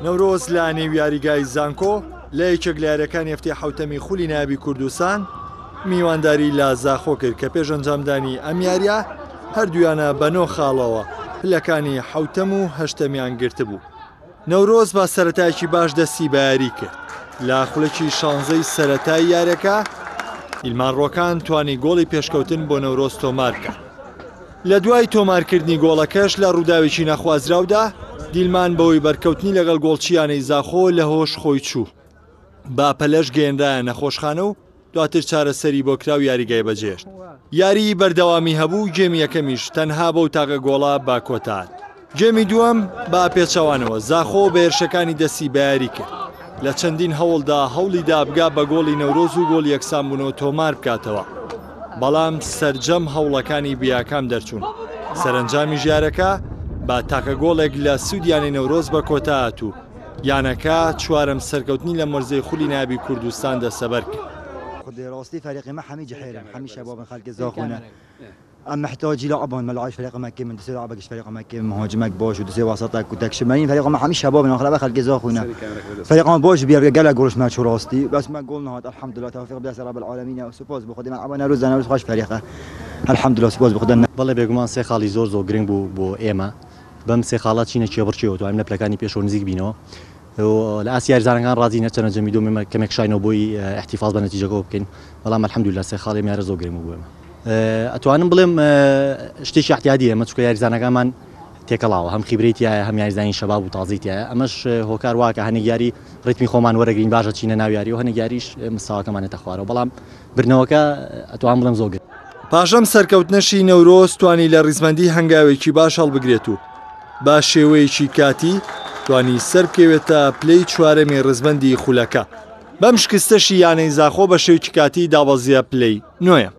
نەورۆز لە نێو یاریگای زانکۆ لە یەکێک لە یاریەکانی هەفتەی حوتەمی خولی نابی کوردستان میوانداری لە زاخۆ کرد کە پێش ئەنجامدانی ئەم یاریە هەردویانە بەنۆ خاڵەوە پلەکانی حوتەم و هەشتەمیان گرتبوو. نەورۆز با سەرەتایەکی باش دەستی بە یاری کرد لە خولەکی شانزەی سەرەتای یارەکە، ئیلمان ڕۆکان توانی گۆڵی پێشکەوتن بۆ نەورۆز تۆمار بکات. لە دوای تۆمارکردنی گۆڵەکەش لە ڕووداوێکی نەخوازراودا، دیلمان بەهۆی بەرکەوتنی لەگەڵ گۆڵچییانەی زاخۆ لە هۆش خۆی چوو. بە پەلەش گەیەنرایە نەخۆشخانە و، دواتر چارەسەری بۆ کرا و یاریگای بەجێهێشت. یاریی بەردەوامی هەبوو و گێمی یەکەمیش تەنها بەو تاقە گۆڵە بە کۆتاهات. گێمی دووەم بە پێچەوانەوە زاخۆ بە هێرشەکانی دەستی بەیاری کرد. لە چەندین هەوڵدا هەوڵی دا بگا بە گۆڵی نەورۆز و گۆڵ یەکسانبوونەوە تۆمار بکاتەوە، بەڵام سەرجەم هەوڵەکانی بێاکام دەرچوون. سەرەنجامیش یارەکە بە تاقە گۆڵێک لە سوود یانەی نەورۆز بە کۆتاهات و، یانەکە چوارەم سەرکەوتنی لەم وەرزەی خولی نایابی کوردستان دەستەبەر کرد. بەم سێ خاڵە چینە کێبڕکێوە توانین لە پلەکانی پێشەوە نزیک بینەوە و لە ئاستی یاریزانەکان ڕازین هەرچەندە جەمی دووەم ئێمە کەمێک شاینەوە بۆی احتفاظ بە نەتیجەکەوە بکەین بەڵام الحمدللە سێ خاڵی ئەم یارە زۆر گرنگ بوو بۆ ئێمە ئەتوانم بڵێم شتێکی احتیادیە ئەمە چونکە یاریزانەکانمان تێکەڵاوە هەم خیبرەی تایە هەم یاریزانی شەباب و تازەی تایە ئەمەش هۆکار واکە هەنێک یاری ڕیتمی خۆمان وەرەگرین باشە چینە ناو یاری و هەنێک یاریش مستاواکەمانێتە خوارەوە بەڵام بردنەوەکە ئەتوان بڵێم زۆر گرنگ. پاشەم سەرکەوتنەشی نەورۆز توانی لە ڕیزبەندی هەنگاوێکی باش هەڵبگرێت و بە شێوەیەکی کاتی توانی سەربکەوێتە پلەی چوارەمی ڕیزبەندی خولەکە، بەم شکستەشی یانەی زاخۆ بە شێوکی کاتی دابەزییە پلەی نۆیەم.